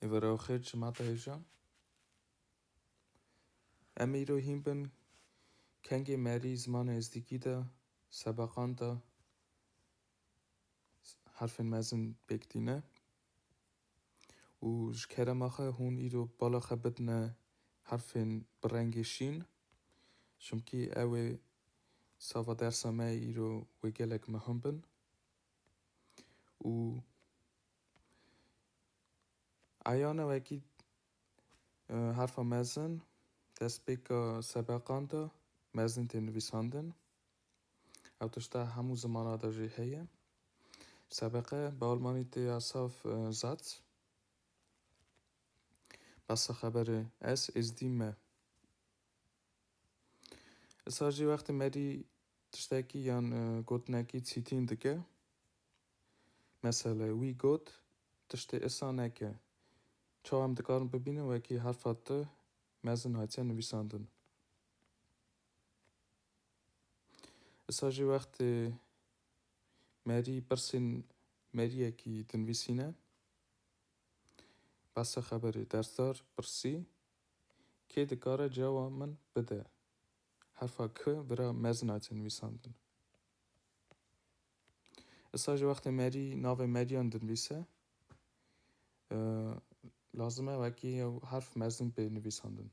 Evara oxir çimata hêja. Em îro hîn bin kengê merî zimana êzdîkî de sebeqan de harfên mezin pêk tîne û ji kerema xwe hûn îro bala xwe bidine harfên bi rengê şîn çimkî ew ê sava dersa me îro wê gelek mehim bin û Eyane wekî herfa mezin destpêka sebeqan de mezin tê nivîsandin. Ew tişta hemû zimana de jî heye. Sebeqe bi almanî tê ya saf Satz. Basa xeberê ez êzdî me. Îsa jî wextê me dî tiştekî yan gotinekî çîtîn dike. Mesele, wî got, tiştê isa neke. Çawa em dikarin bibînin wekî herfa T mezin hatiye nivîsandin. Isa jî wextê merî pirsên meriyekî dinivîsîne. Behsa xeberê, dersdar pirsî, Kê dikare cewa min bide? Herfa K bira mezin hatiye nivîsandin. Issa ji wextê merî navê meriyan dinivîse lazim e wekî yew herf mezin bê nivîsandin.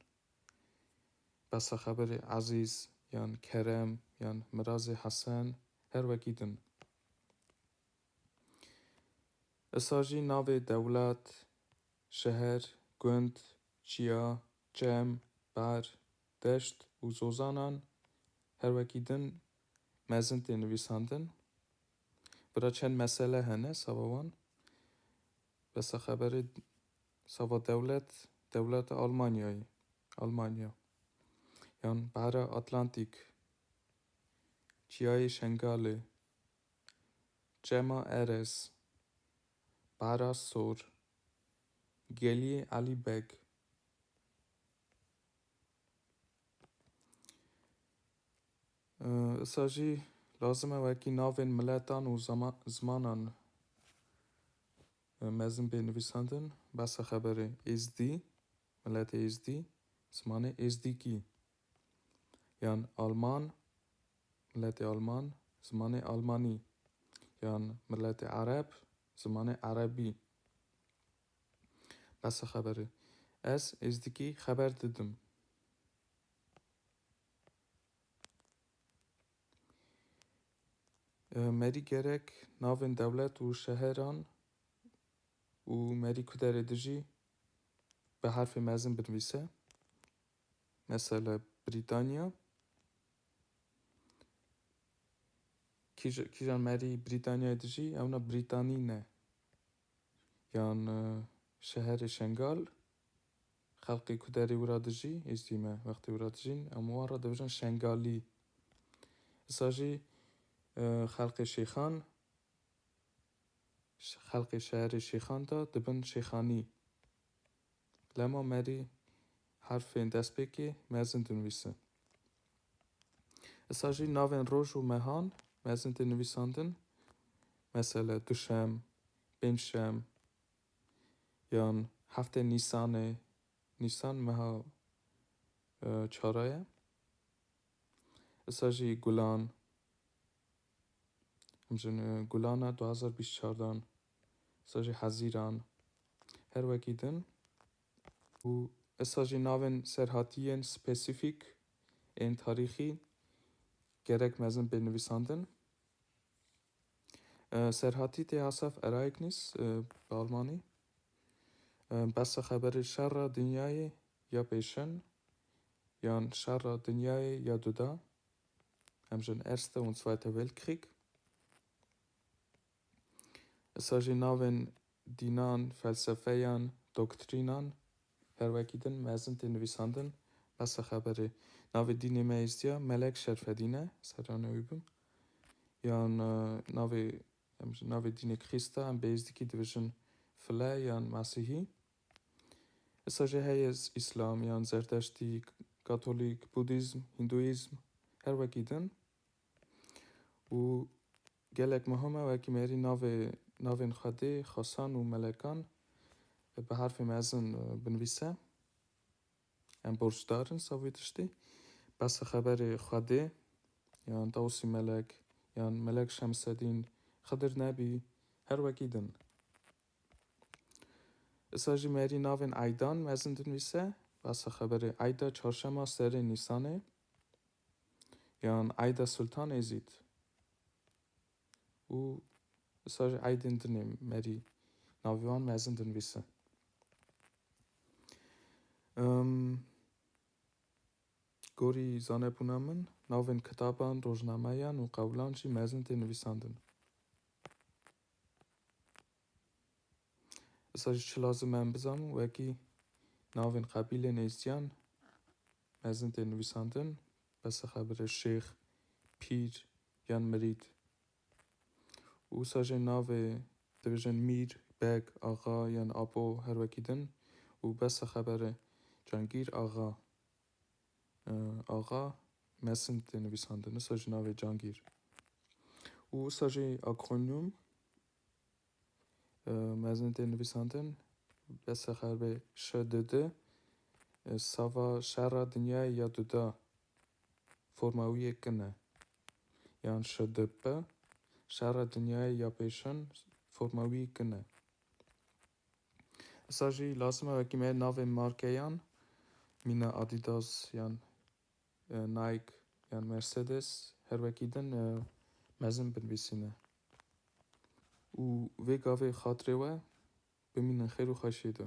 Besa xeberê Ezîz yan Kerem yan Mirazê Hesen her wekî din. Issa jî navê dewlet, şeher, gund, çiya, çem, ber, deşt û zozanan her wekî din Mezin tê nivîsandin. Bira çend mesele hene sava wan. Besa xeberê sava dewlet, dewleta Almanyayê, Almanya. Yan Behra Atlantîk, Çiyayê Şengalê, Çema Erez, Behra Sor, Geliyê Elî Beg. Issa jî lazim e wekî navên miletan û zimanan mezin bê nivîsandin. Behsa xeberê Êzdî, miletê Êzdî, zimanê Êzdîkî. Yan Alman, miletê Alman, zimanê Almanî. Yan miletê Ereb, zimanê Erebî. Bese xeberê. Ez êzdikî xeber didim. Merî gerek navên dewlet û şeheran û merî kuderê dijî bi herfê mezin binivîse. Mesela Brîtanya. Kîjan merî Brîtanyayê dijî ewna Brîtanî ne. yan şeherê Şengal xelqê ku derê wira dijî êstî me wextê wira dijîn em wan re dibijin Şengalî. Isa jî xelqê Şêxan xelqê şeherê Şêxan de dibin Şêxanî. Lema merî herfên destpêkê mezin dinivîsin. Issa jî navên roj û mehan mezin tê nivîsandin, mesele duşem, pêncşem yan heftê nîsanê, nîsan meha çara ye. Issa jî gulan. Hemjin gulana du hezar bîst çar dan sa jî hezîran her wekî din û esa jî navên serhatiyên spesîfîk ên tarîxî gerek mezin bên nivîsandin. Serhatî tê hasef Ereignis bi almanî. Behsa xeberê şerra dinyayê ya pêşin yan şerra dinyayê ya duda hem jin Erste und Zweiter Weltkrieg. Issa jî navên dînan, felsefeyan, doktrînan her wekî din mezin tê nivîsandin. Bes e xeberê. Navê dînê me Êzdiya Melek Şerfedîn e, serane wî bim. Yan navê navê dînê Krîsta em bê Êzdikî dibêjin File yan Mesihî. Îsa jî heye Îslam yan Zerdeştî, Katolîk, Budîzm, Hîndûîzm her wekî din û gelek muhim e wekî mêrî navê navên Xwedê, xasan û melekan bi harfê mezin binivîse. Em borcdar in savî tiştî. Behsa xeberê Xwedê yan Tawusî Melek yan Melek Şemsedîn, Xidir Nebî her wekî din. Îsa jî merî navên Eydan mezin dinivîse, basa xeberê Eyda çarşema serê Nîsanê yan Eyda Sultan Êzîd û îsa jî Eydên din ê merî navê wan mezin dinivîse. Gorî zanebûna min navên kitaban, rojnameyan û qewlan jî mezin tê nivîsandin. Îsa jî çi lazim e em bizanin wekî navên qebîlên êzdiyan mezin tên nivîsandin, besexebire şêx, pîr yan mirîd. Û wisa jê navê dibêjin mîr, beg, axa yan apo her wekî din û besexebere cangîr, axa. Axa Mesin tê nivîsandin, wisa jî navê Cangîr û wisa jî akronyum mezin tê nivîsandin besexerbê ŞDD sava şerra dinyayê ya duda forma wî yê kin e yan ŞDP şerra dinyayê ya pêşin forma wî kin e. Îsa jî lazim e wekî me navên markeyan mîna Adidas yan Nike yan Mercedes her wekî din mezin binivîsîne. Û vê gavê xatirê we bimînin xêr û xweşiyê de.